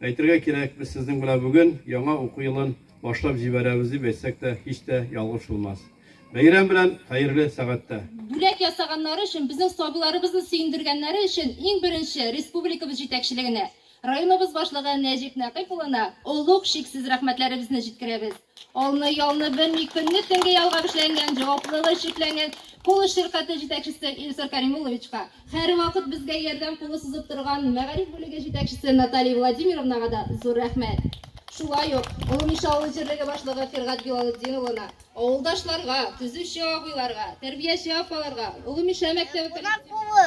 Әйтергә кирәк, без сезнең белән бүген яңа уку елын башлап җибәрәбез дип әйтсәк тә һич тә ялгыш булмас. Бәйрәм белән, хәерле сәгатьтә! Бүләк ясаганнары өчен, безнең сабыйларыбызны сөендергәннәре өчен иң беренче республикабыз җитәкчелегенә, районыбыз башлыгы Нәҗип Нәкыйп улына олуг, чиксез рәхмәтләребезне җиткерәбез. Алны ялны белми, көнне-төнге ялгап эшләнгән, җаваплылыгы чикләнгән Кулыш ширкате җитәкчесе Илсур Кәримулловичка, һәрвакыт безгә ярдәм кулы сузып торган мәгариф бүлеге җитәкчесе Наталья Владимировнага да зур рәхмәт. Шулай ук Олымиша авыл җирлеге башлыгы Фиргать Билалетдин улына, авылдашларга, төзүче абыйларга, тәрбияче апаларга, Олымиша мәктәбе коллективына,